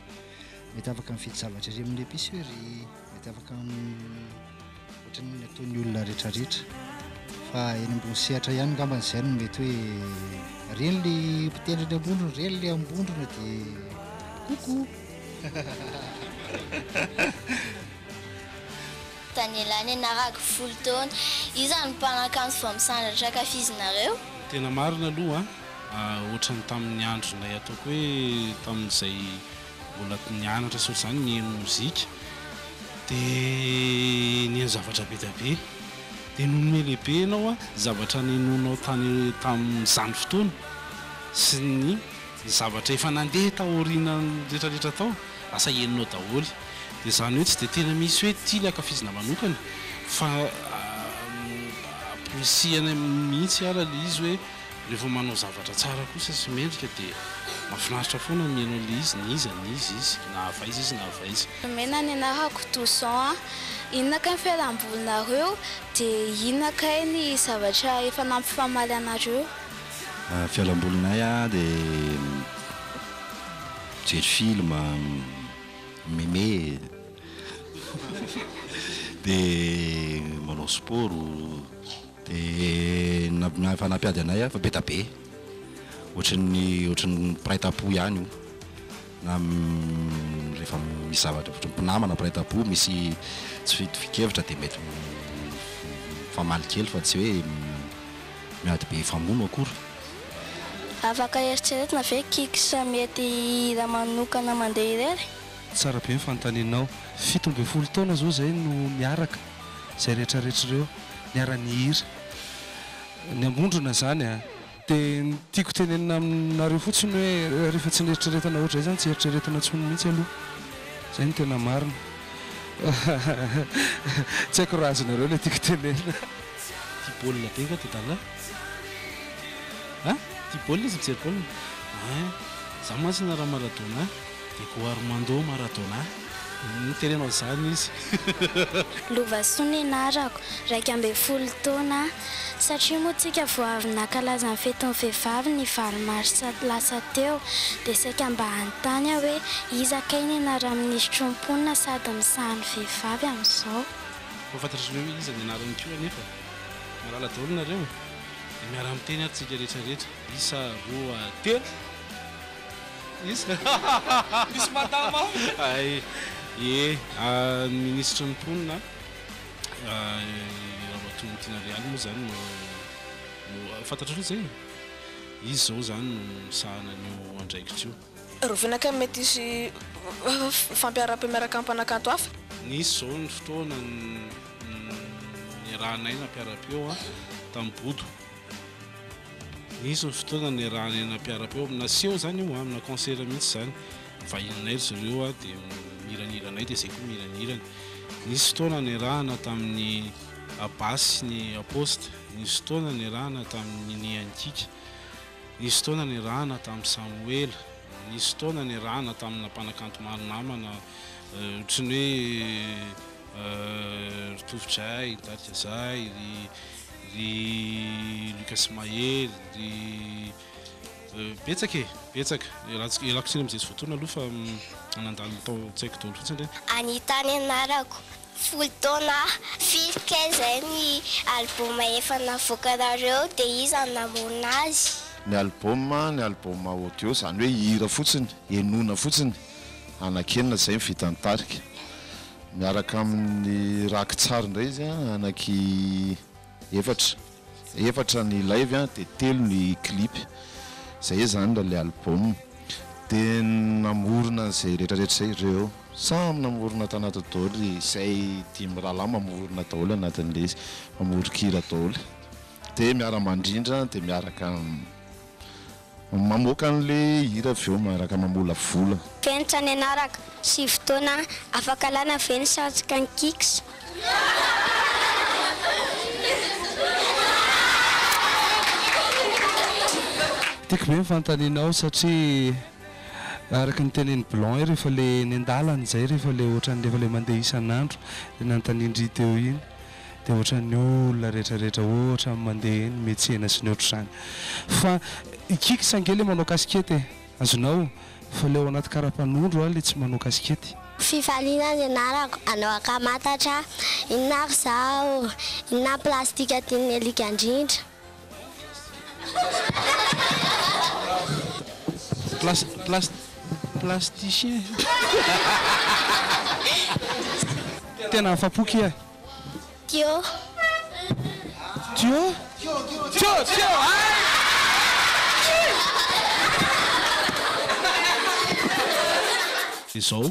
mety afaka mividy zavatra ery amin'ny epicerie, mety afaka Ohatran'ny ny ataon'ny olona rehetrarehetra fa eny ambony sehatra ihany ngambany izay no mety hoe reny le mpitendry ny ambondrona reny le ambondrona de koko Danielany anarako folo taona io zany mpanakanto vao misandratra ankafizinareo? Tena marina aloha an, ohatran'ny tamin'ny andronay ataoko hoe tamin'izay Mbola nianatra tsy ohatr'izany, nihaino mozika, dia nihaino zavatra be dia be. Dia nonome lehibe ianao ny zavatra nihenoinao tany tamin'izany fotoana sy ny zavatra efa nandeha taorianan'ny rehetrarehetra tao, lasa henonao daholo. Dia izany hoe tsy dia tena misy hoe ity ilay ankafizina manokana fa amporisihana mihitsy ary ilay izy hoe. Rehefa manao zavatra tsara kosa sy mendrika dia mahafinaritra foana ny mihaino an'ilay izy na iza na iza izy, na avy aiza izy na avy aiza. Nomena ny anarako Toussaint an! Inona kay ny fialambolinareo? Dia inona kay ny zavatra efa nampifamaly anareo? Ny fialambolinay an dia mijery film, mi-meme, dia manao sport. Dia na fanampy ady anay fa be da be, ohatran'ny ohatran'ny mpiray tampo ihany io na rehefa misy zavatra ohatran'ny mpinamana mpiray tampo misy tsy fitovian-kevitra dia mety mifamaly kely fa tsy hoe miady be hifamono akory. Afaka eritreretina ve Kix mety hihira manokana mandeha irery? Tsara be ny fanontanianao. Fito ambin'ny folo taona zao zay no miaraka. izay rehetra rehetra ireo niara-nihira. Ny ambondrona izany an! Dia ny tiako tenenina aminareo fotsiny hoe rehefa tsy nieritreretana ohatr'izay izany tsy eritreretina intsony mihitsy aloha. Izay no tena marina. Tsy haiko raha azonareo ilay tiako tenenina. Tia baolina be nga ty dala? An? Tia baolina izy mijery baolina? Hein! Za mantsy na raha Maradona. Dia koa Armando Maradona no teneno an'izany izy. Lovasoa ny anarako, iraika ambin'ny folo taona aho. Satria moa tsika vao avy nankalaza ny fetin'ny vehivavy ny valo marsa lasa teo, dia saika mba hanontany aho hoe iza kay ny anaran'ny minisitry ny mponina sady misaha ny vehivavy amin'izao? Koa fantatrareo hoe iza ny anarany koa anefa? Malala daholo nareo? Dia miara-miteny ary tsika rehetra rehetra, isa, roa, telo. Iza? Misy madama ao ve? Hay, ie, ny minisitry ny mponina, i Ramatoa Tiana Real moa izany no, fantatrareo izay e? Izy izao izany no misahana an'io andraikitra io. Rovina kay mety hisy fampiaram-pe miaraka amin'ny mpanakanto hafa? Nisy izao ny fotoana niarahanay nampiara-peo tamin'i Bodo. Nisy ny fotoana niarahana eny am-piara-peo, naseho izany io amina concert mihitsy izany, nivahininay ry zareo aho dia niranirana anay dia izay koa niranirana. Nisy fotoana niarahana tamin'ny Abas sy ny Apost, nisy fotoana niarahana tamin'ny Ninie and Kika, nisy fotoana niarahana tamin'i Samoela, nisy fotoana niarahana tamina mpanakanto maro namana ohatry ny hoe ry Tovo Jay, ry Dadika Zay, ry ry Lucas Mahery, ry euh, betsaka e, betsaka. Ialako ialako tsiny amin'izay tsy voatona aloha fa mm, nandalo tao an-tsaiko daholo fotsiny re. Anita ny anarako. Folo taona firy kay izay ny album efa navoakanareo dia iza no namorona azy? Ny album, ny album audio izany hoe hira fotsiny, henoina fotsiny, anakienina izay ny vidin'ny tarika. Miaraka amin'ny rakitsary indray izy an, anaky efatra, efatra ny live an, dia telo ny clip, izay izany ilay album, dia namorona an'izay retraretra izay ireo, samy namorona tanaty daholo izay dimy rahalahy mamorona daholo anatin'ilay izy, mamoron-kira daholo, dia miara-mandrindra dia miaraka. Mamoaka anle hira avy eo miaraka mamolavola. Venitra ny anarako sy fotoana afaka alana ve ny satroka ny kicks? Tiako be ny fanontanianao satria araka ny tenenin'i Blanc rehefa le eny an-dalana izay rehefa le ohatran'ny rehefa le mandeha isan'andro le nanontanian-dry teo iny dia ohatran'ny olona rehetrarehetra ohatran'ny mandeha eny metsena sy ny ohatr'izany fa ikiky sa ange le manao casquette e! azonao fa le ao anaty karapanondro aho le tsy manao casquette. Fifaliana ny anarako anao ankamantatra inona ary zaho inona ny plastika tian'ny alika indrindra. Plasticien Tena afa-po kia. Tio. Tio? Tio, tio, hay! Izao.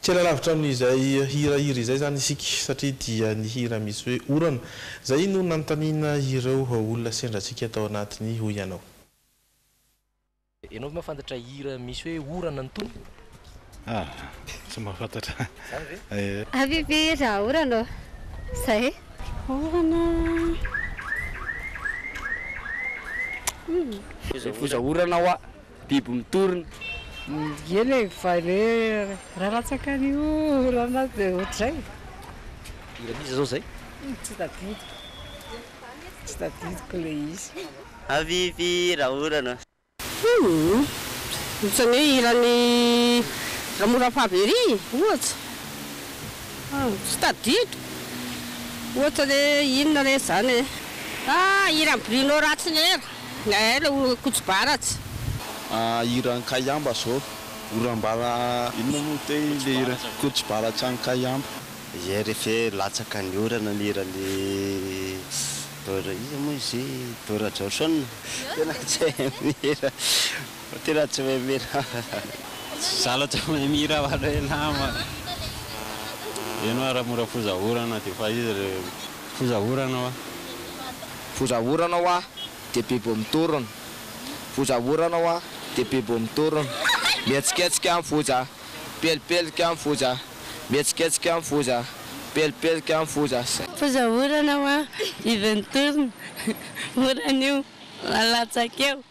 Kely alavitra amin'izay hira hira izay izany isika satria dia ny hira misy hoe orana izay no nanontaniana ireo olona sendra antsika tao anatiny hoy ianao. Ianao ve mahafantatra hira misy hoe orana ny tonony? Ah! Tsy mahafantatra. Izany ve? Eh. Avy ve raha orana ô? Izay e. Orana a. Hum. Mifoza orana hoa. biby mitorina. Ye le vale raha latsaka ny orana de ohatr'izay. Iza m'iza zao zay? Tsy tadidiko, tsy tadidiko le izy. Habibi raha orana. Hum ohatran'ny hoe hiran'i Ramora Favery ohatra ah tsy tadidiko ohatra le inona re zany e ah hiran'i Bruno Ratsy nera. Nael o kotsibaratsy. Ah hira an'i Kayamba zao oram-bava inona moa te le hira kotsibaratsy an'i Kayamba. Hier efe latsaka ny orana ny hiran'i Beur iza moa izy io i Beur Jaoson? Tena tsy mahay mihira tena tsy mahay mihira za lo tsy mahay mihira fa le nama eny oa raha mora foza orana de efa izy le. Foza orana hoa. Foza orana hoa dia bibo mitorona. Foza orana hoa dia bibo mitorona. Mihetsiketsika ny foza, pelipelika ny foza, mihetsiketsika ny foza, pelipelika ny foza. Foza orana hoa, biby mitorona. Orana io, malatsaka eo.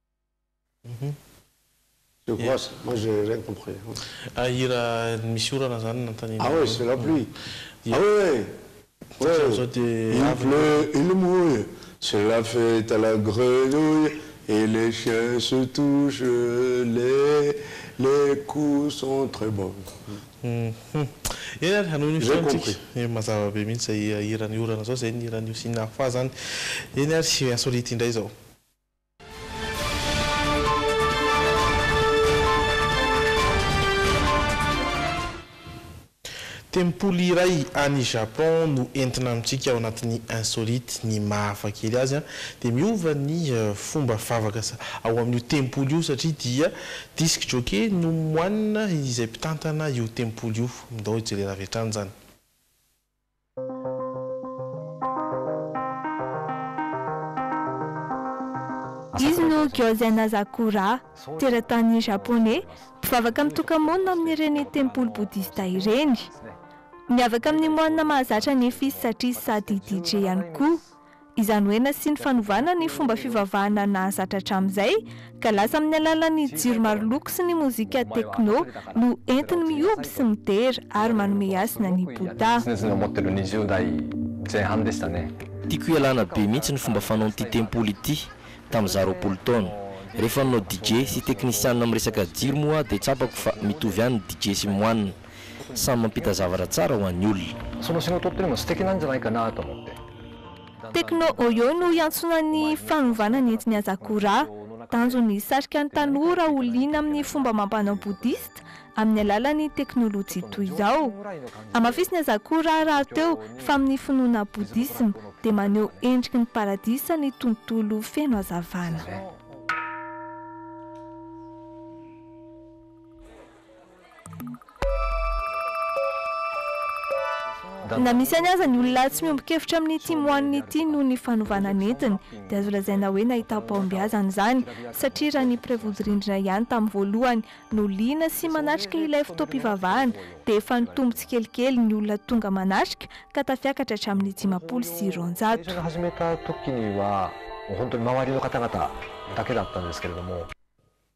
Je crois ça, moi je n'ai rien compris. Ah hira misy orana zany nanontaniana anao. Ah oui c'est la pluie. Ah oui oui. Il pleut, il mouille, c'est la fête à la grenouille et les chiens se touchent les les coups sont très bons. Eny ary hanohy ny fihaonontsika. Mazava be mihitsy izay hiran'ny orana izao, izay ny hiran'io Sina Fa zany. Eny ary insolite indray izao. Tempoly iray any Japon no entina amintsika ao anatin'ny Insolite. Ny maha hafa kely azy dia miova ny fomba vavaka ao amin'io tempoly io satria dia disc jockey no moine izay mpitantana io tempoly io. Ndao hijerena avy hatrany izany. Izy no Gyozan Sakura, teratany Japoney, mpivavaka mitoka-monina amin'ireny tempoly bodista ireny. Miavaka amin'ny moanina mahazatra ny fils satria sady DJ ihany koa. Izany hoe nasiany fanovana ny fomba fivavahana nahazatra hatramin'izay, ka lasa amin'ny alalan'ny jiro maro loko sy ny mozika techno no entiny mihoby sy midera ary manome hasina ny Bouddha. Tiako ialana be mihitsy ny fomba fanaon'ity tempoly ity tamin'ny izaho roapolo taona. Rehefa nanao DJ sy teknisianina miresaka jiro moa aho dia tsapako fa mitovy ihany ny DJ sy moine. Samy mampita zavatra tsara ho an'ny olona. Sono sy ny oto otrimo sy tekinan'ny zinaika na ato amam-pe. Techno Oyo no iantsoana ny fanovana nentin'i Asakura. Tanjony ny hisarika ny tanora ho liana amin'ny fomba amam-panao bodista amin'ny alalan'ny teknolojia toy izao. Hamafisin'i Asakura rahateo fa amin'ny finoana bodisma dia maneho endriky ny paradisa ny tontolo feno hazavana. Na misy any aza ny olona tsy miombon-kevitra amin'ity moanina ity noho ny fanovana ny entiny, dia azo lazaina hoe nahitam-pahombiazana izany, satria raha ny mpiray-vodirindrina ihany tamin'ny voalohany no liana sy manatrika ilay fotoam-pivavahana, dia efa nitombo tsikelikely ny olona tonga manatrika ka tafiakatra hatramin'ny dimampolo sy roanjato.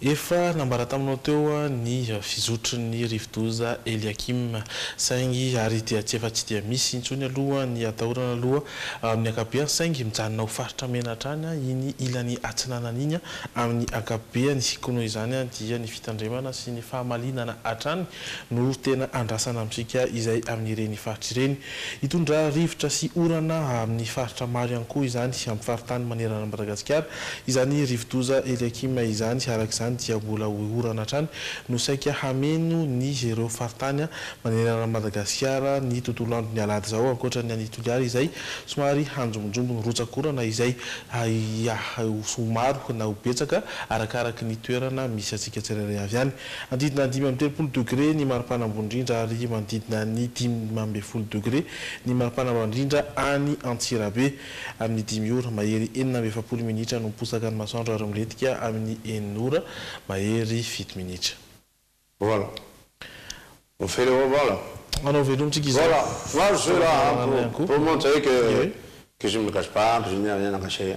Efa nambara taminao teo ny fizotry ny rivodoza Eliakim, saingy ary dia tsy efa tsy dia misy intsony aloha ny atahorana aloha amin'ny ankapobeany, saingy mijanona ho faritra mena hatrany iny ilany atsinanana iny amin'ny ankapobeany, koa noho izany dia ny fitandremana sy ny fahamalinana hatrany no tena andrasana amintsika izay amin'ireny faritra ireny. Hitondra rivotra sy orana amin'ny faritra maro ihany koa izany sy amin'ny faritany manerana an'i Madagasikara izany rivodoza Eliakim izany. Araka izany dia mbola ho orana hatrany no saika hameno ny ireo faritany manerana an'i Madagasikara ny tontolo andron'ny alahady izao ankoatra ny any Toliara izay somary hanjombonjombo ny rotsakorana izay ho maro na ho betsaka arakaraky ny toerana misy antsika tsirairay avy any. Manodidina dimy amby telopolo degre ny maripana ambony indrindra ary manodidina ny dimy ambin'ny folo degre ny maripana ambany indrindra any Antsirabe. Amin'ny dimy ora mahery enina amby efapolo minitra no miposaka ny masoandro ary milentika amin'ny enina ora mahery fito minitra. Voilà. On fait le voilà. Anao veloma tsika izao. Voilà. Moi je suis là pour montrer que je ne me cache pas, que je n'ai rien à cacher.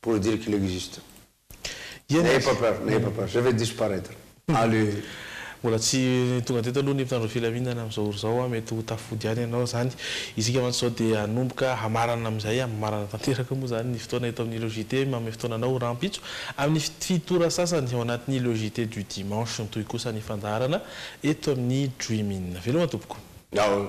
pour dire qu'il existe n'ayez pas peur n'ayez pas peur je vais disparaitre allez. Mbola tsy tonga teto aloha ny mpitandro filaminana amin'izao ora izao, mety ho tafody ihany ianao izany. Isika mantsy izao dia hanomboka hamarana amin'izay hamarana tanteraka moa izany ny fotoana eto amin'ireo JT manome fotoana anao rahampitso amin'ny fito ora sasany ao anatin'ireo JT du dimanche. Mitohy kosa ny fandaharana eto amin'ny Dream In. Veloma tompoko. Aoh.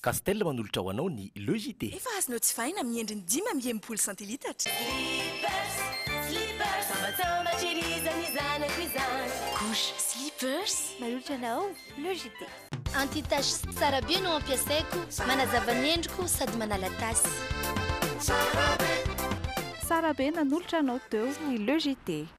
Castel manolotra ho anao ny Le JT. Efa azonao jifaina amin'ny endriny dimy amby enimpolo santilitatra. Slippers, slippers, sambatsambatry irizany ny zanako izany. Couche slippers manolotra anao Le JT. Anti-tache tsara be no ampiasaiko, manazava ny endriko sady manala tasy. Tsara be! Tsara be nanolotra anao teo ny Le JT.